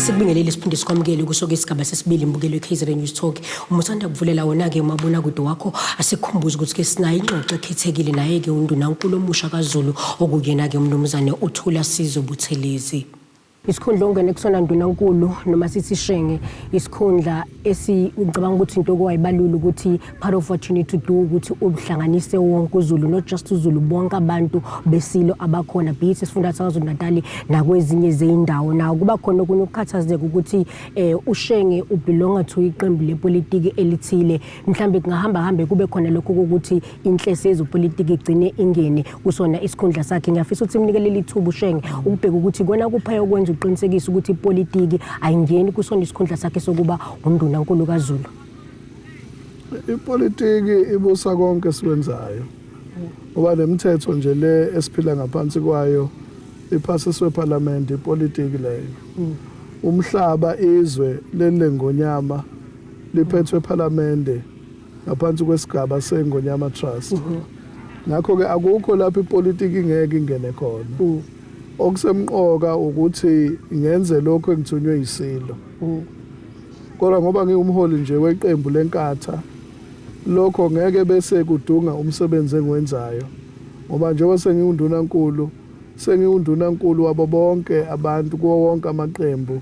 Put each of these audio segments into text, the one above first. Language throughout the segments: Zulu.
Sikubingelele siphinde sikwamukele kusoke isigaba sesibili imbukelo eKaizer News Talk. Uma usanda kuvulela wona ke umabona kude wakho asikhumbuze ukuthi ke sinayo ingxoxo ekhethekile naye ke unduna uNkulumo omusha kaZulu okuyena ke umnumzane uThula Sizo Buthelezi. isikhundla ongene kusona ndunankulu noma sithi shenge isikhundla esicabanga ukuthi into okwayibalula ukuthi part of what you need to do ukuthi ubuhlanganise wonke uzulu not just uzulu bonke abantu besilo abakhona be it esifunda sakwazulu natali nakwezinye zeyindawo nawo kuba khona okunye ukukhathazeka ukuthi eh ushenge ubelonga to iqembu lepolitiki elithile mhlambe kungahamba hambe kube khona lokho ukuthi inhlese yezopolitiki igcine ingene kusona isikhundla sakhe ngiyafisa ukuthi imnike leli thuba ushenge ukubheka ukuthi kona kuphaya okwenza uqinisekisa ukuthi ipolitiki ayingeni kusona isikhundla sakhe sokuba unduna nkulu kazulu ipolitiki ibusa konke esiwenzayo ngoba nemithetho nje le esiphila ngaphansi kwayo iphasiswe ephalamende ipolitiki leyo mm. umhlaba izwe leli lengonyama liphethwe ephalamende ngaphansi kwesigaba seNgonyama Trust mhm. ngakho ke akukho lapho ipolitiki ingeke ingene khona mhm. okusemqoka ukuthi ngenze lokho engithunywe yisilo mhm. kodwa ngoba ngiwumholi nje weqembu lenkatha lokho ngeke bese kudunga umsebenzi engiwenzayo ngoba njengoba sengiwundunankulu sengiwundunankulu wabo bonke abantu kuwo wonke amaqembu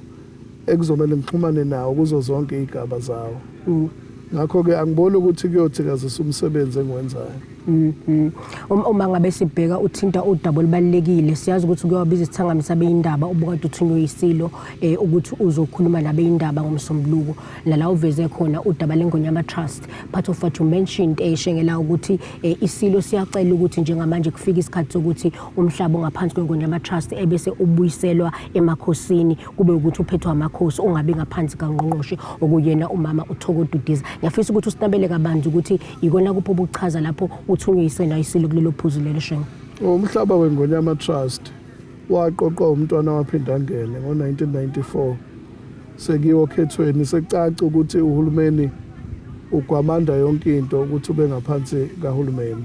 ekuzomele ngixhumane nawo kuzo zonke iy'gaba zawo mm. ngakho-ke angiboni ukuthi kuyothikazisa umsebenzi engiwenzayo mm, mm. Um, uma ngabe sibheka uthinta udaba olubalulekile siyazi ukuthi kuyowabiza isithangami sabeyindaba obukade uthunywe yisilo um ukuthi uzokhuluma nabeyindaba ngomsombuluko nala uveze khona udaba lengonyama trust part of what you mentioned um shengela ukuthi um isilo siyacela ukuthi njengamanje kufike isikhathi sokuthi umhlaba ongaphansi kwenkundla yamatrust ebese ubuyiselwa emakhosini kube ukuthi uphethwa amakhosi ungabi ngaphansi kangqongqoshe okuyena umama uthokodudiza ngiyafisa ukuthi usinabele kabanzi ukuthi ikona kuphi obuchaza lapho uthunywe isena isilo kulelo phuzu lelo shengo umhlaba wengonyama trust waqoqwa umntwana waphinde angene ngo-1994 sekiwo okhethweni sekucaca ukuthi uhulumeni ugwamanda yonke into ukuthi ube ngaphansi kahulumeni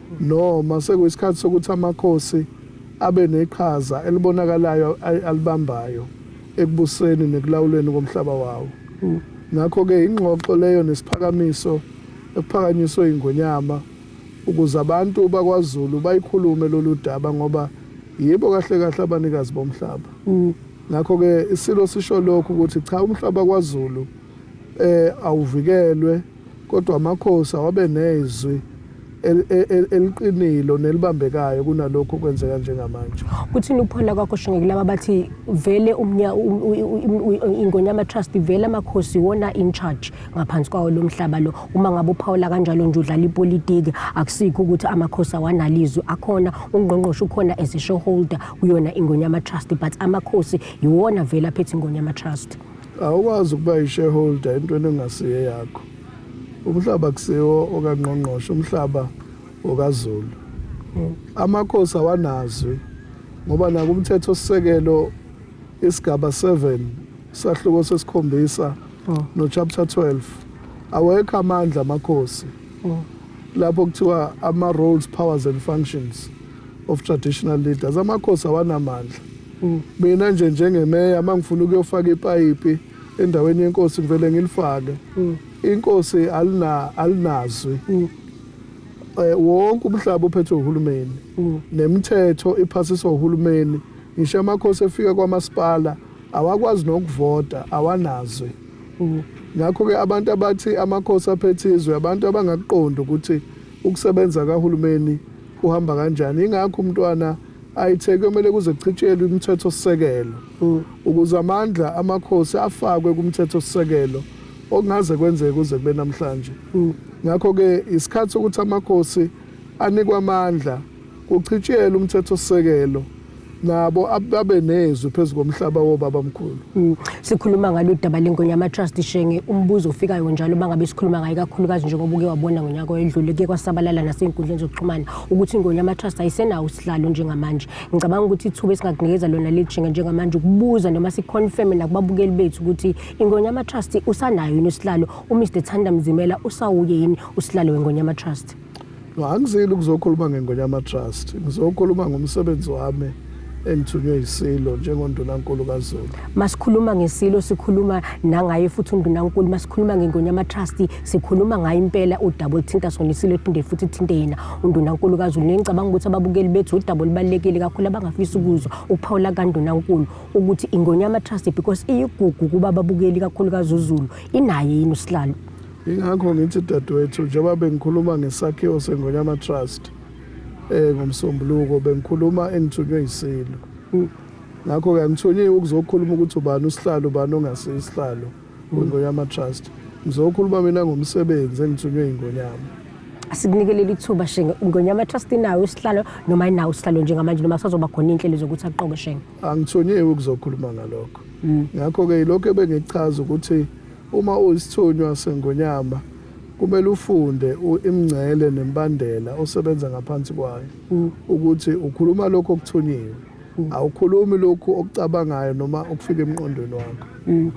Noma sekuyisikhathi sokuthi amakhosi abe neqhaza elibonakalayo alibambayo ekubuseni nekulawulweni komhlaba wawo. Ngakho-ke ingxoxo leyo nesiphakamiso ekuphakanyiswe ingonyama ukuze abantu bakwaZulu bayikhulume lolu daba ngoba yibo kahle kahle abanikazi bomhlaba. Ngakho-ke isilo sisho lokhu ukuthi cha umhlaba kwaZulu eh awuvikelwe Kodwa amakhosi awabe nezwi eliqinile nelibambekayo kunalokho okwenzeka njengamanje. Kuthini ukuphona kwakho shingekile laba bathi vele umnya ingonyama trust vele amakhosi wona in charge ngaphansi kwawo lomhlaba lo uma ngabe uphawula kanjalo nje udlala ipolitiki akusikho ukuthi amakhosi awanalizwe akhona ungqongqoshe ukhona as a shareholder kuyona ingonyama trust but amakhosi yiwona vele aphethe ingonyama trust Awukwazi ukuba yi-shareholder entweni engasiye yakho. Umhlaba kusiwo okangqongqoshe, umhlaba okaZulu. Amakhosi awanazwi ngoba nakumthetho sisekelo isigaba 7 sahluko sesikhombisa oh. no chapter 12 awekho amandla amakhosi oh. lapho kuthiwa ama roles powers and functions of traditional leaders amakhosi awanamandla mina nje njengemeya uma ngifuna ukuyofaka ipayipi endaweni yenkosi ngivele ngilifake mm. inkosi alina alinazwi mm. eh, wonke umhlaba uphethwe uhulumeni mm. nemithetho iphasiswa uhulumeni ngisho amakhosi efika kwamasipala awakwazi nokuvota awanazwi ngakho ke abantu abathi amakhosi aphethe izwe abantu abangakuqondi ukuthi ukusebenza kahulumeni uhamba kanjani ingakho umntwana ayithe kumele kuze kuchitshelwe imithetho sisekelo mm. ukuze amandla amakhosi afakwe kumthetho sisekelo okungaze kwenzeke kuze kube namhlanje mm. ngakho ke isikhathi ukuthi amakhosi anikwa amandla kuchitshele umthetho sisekelo nabo ababe nezwi phezu komhlaba wobaba mkhulu mm. sikhuluma ngalo daba lengonya ama trust shenge umbuzo ofikayo njalo bangabe sikhuluma ngayo kakhulukazi njengoba uke wabona ngonyaka oyedlule ke kwasabalala nasezinkundleni zokuxhumana ukuthi ingonya ama trust ayisenawo usihlalo njengamanje ngicabanga ukuthi ithuba esingakunikeza lona lejinga njengamanje ukubuza noma siconfirm nakubabukeli bethu ukuthi ingonya ama trust usanayo yini usihlalo uMr Thanda Mzimela usawuye yini usihlalo wengonya ama trust no angizile ukuzokhuluma ngengonyama trust ngizokhuluma ngomsebenzi wami engithunywe yisilo njengondunankulu kazulu masikhuluma ngesilo sikhuluma nangaye futhi undunankulu masikhuluma ngengonyama trust sikhuluma ngayo impela udaba oluthinta sona isilo phinde futhi ithinte yena undunankulu kazulu nengicabanga ukuthi ababukeli bethu udaba olubalulekile kakhulu abangafisa ukuzwa ukuphawula kandunankulu ukuthi ingonyama trust because iyigugu kuba ababukeli kakhulu kazuzulu inaye yini usihlalo Ingakho ngithi dadewethu njengoba bengikhuluma ngesakhiwo seNgonyama Trust eh ngomsombuluko bengikhuluma engithunywe isilo. Ngakho ke angithunyiwe ukuzokhuluma ukuthi ubani usihlalo ubani ongasisihlalo kwiNgonyama Trust. Ngizokhuluma mina ngomsebenzi engithunywe iNgonyama. Asikunikele ithuba Shenge Ngonyama Trust inawo isihlalo noma inawo isihlalo njengamanje noma sazoba khona inhlelo zokuthi aqoke Shenge. Angithunyiwe ukuzokhuluma ngalokho. Ngakho ke ilokho ebengichaza ukuthi Uma uyisithunywa seNgonyama kumele ufunde imingcele nembandela osebenza ngaphansi kwayo mm. ukuthi ukhuluma lokho okuthunyiwe mm. awukhulumi lokhu okucabangayo noma okufika emqondweni wakho mm.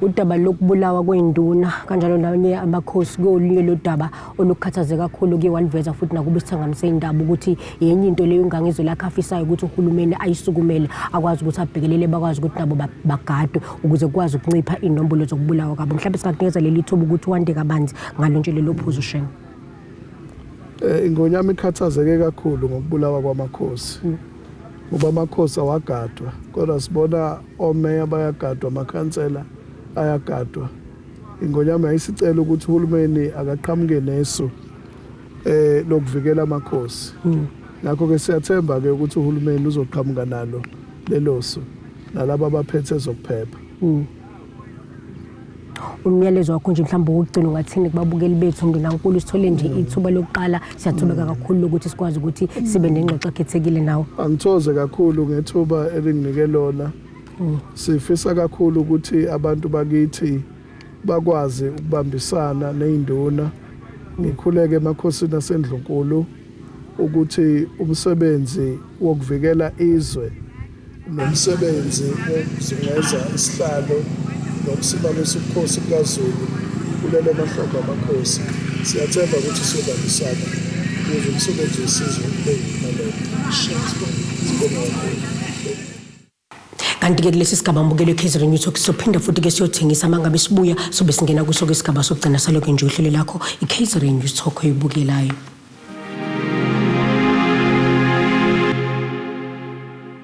udaba lokubulawa kwenduna kanjalo nabanye abakhosi kolunye lodaba olukhathaze kakhulu ke waliveza futhi nakuba isithangamisa indaba ukuthi yenye into leyo ingangizwe lakhe afisayo ukuthi uhulumeni ayisukumele akwazi ukuthi abhekelele bakwazi ukuthi nabo bagadwe ukuze kukwazi ukuncipha inombolo zokubulawa kwabo mhlawumbe singakunikeza leli thuba ukuthi wande kabanzi ngalo nje lelo phuzu shenge eh, ingonyama ikhathazeke kakhulu ngokubulawa kwamakhosi mm. ngoba amakhosi awagadwa kodwa sibona omeya bayagadwa amakhansela ayagadwa Ingonyama yayisicela ukuthi uhulumeni akaqhamuke nesu eh lokuvikela amakhosi. Hmm. Ngakho ke siyathemba ke ukuthi uhulumeni uzoqhamuka nalo lelosu nalabo abaphethe zokuphepha. Hmm. umyalezo wakho nje mhlawumbe wokugcina ungathini kubabukeli bethu ndunankulu sithole nje mm. ithuba lokuqala siyathubeka mm. kakhulu lokuthi sikwazi ukuthi sibe nengxoxo ekhethekile nawe angithoze kakhulu ngethuba elinginike lona Sifisa kakhulu ukuthi abantu bakithi bakwazi ukubambisana nezinduna ngikhuleke emakhosini asendlunkulu ukuthi umsebenzi wokuvikela izwe nomsebenzi wokuzungeza isihlalo nokusimamisa ubukhosi bukaZulu kulelo mahlombe amakhosi siyathemba ukuthi siyobambisana ukuze umsebenzi wesizwe ube yimpumelelo. Siyabonga kakhulu. kanti-ke kulesi sigaba mbukelo ekhezeren youth talk sophinda futhi-ke siyothengisa uma ngabe sibuya sobe singena kuso ke isigaba sokugcina saloke nje uhlelo lakho ikhezeren youth talk oyibukelayo